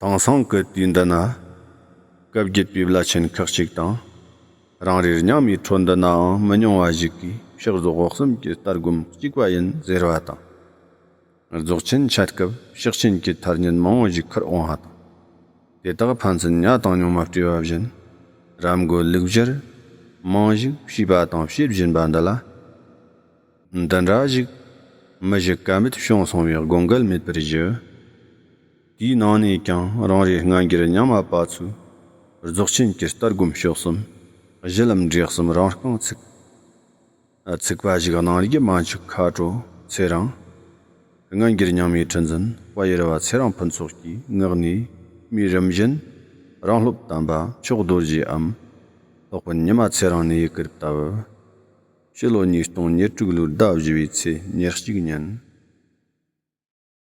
དེང་སང་གི་དུས་འདི་ན། སྐབས་བརྒྱུད་པའི་བླ་ཆེན་ཁག་ཅིག་དང། རང་རེར་སྙིང་མའི་འཕྲོ་འདུ་ནའང་མི་ཉུང་བ་ཞིག་གིས་ཕྱག་རྫོགས་འོག་གསུམ་གྱི་ལྟ་སྒོམ་གཅིག་པ་ཡིན་ཟེར་བ་དང། རྫོགས་ཆེན་འཆད་སྐབས་ཕྱག་ཆེན་གྱི་མཐར་ཉིན་མང་བོ་ཞིག་ཁུར་འོང་བ་དང། དེ་དག་ཕན་ཚུན་གཉའ་དང་སྙིང་མ་སྤྲེལ་བ་བཞིན། རབ་འགོད་ལུགས་བཞིར། རྨང་གཞིག་བྱས་པ་དང་བྱེད་བཞིན་པ་འདི་ལ། འདི་འདྲ་ཞིག། མི་བཞི་ཀ་མེད་བྱུང་སོང་བའི་དགོངས་འགལ་མེད་པར་བཞི། དེའི་ནང་ནས་ཀྱང་རང་རེའི་སྔ་འགྱུར་རྙིང་མ་པ་ཚོས་རྫོགས་ཆེན་གྱི་ལྟ་སྒོམ་ཤོག་གསུམ་གཞི་ལམ་འབྲས་གསུམ་རང་རྐང་ཚུགས་ཚུགས་པ་ཞིག་གནང་རྒྱུ་མ་འཆུག་ཁ་དྲོ་ཚེ་རིང། སྔ་འགྱུར་རྙིང་མའི་ཁྲི་འཛིན་དཔལ་ཡེར་བ་ཚེ་རིང་ཕུན་ཚོགས་ཀྱིས་ངག་ནས་སྨྲས་རིམ་བཞིན་རང་སློབ་དམ་པ་མཆོག་རྡོ་རྗེའམ་ལྷག་པར་ཉི་མ་ཚེ་རིང་ནས་ཡི་གེར་བལྟ་བར་ཕྱི་ལོ་ཉིས་སྟོང་ཉེར་དྲུག་ལོའི་ཟླ་བཞི་བའི་ཚེས་ཉེར་གཅིག་ཉིན།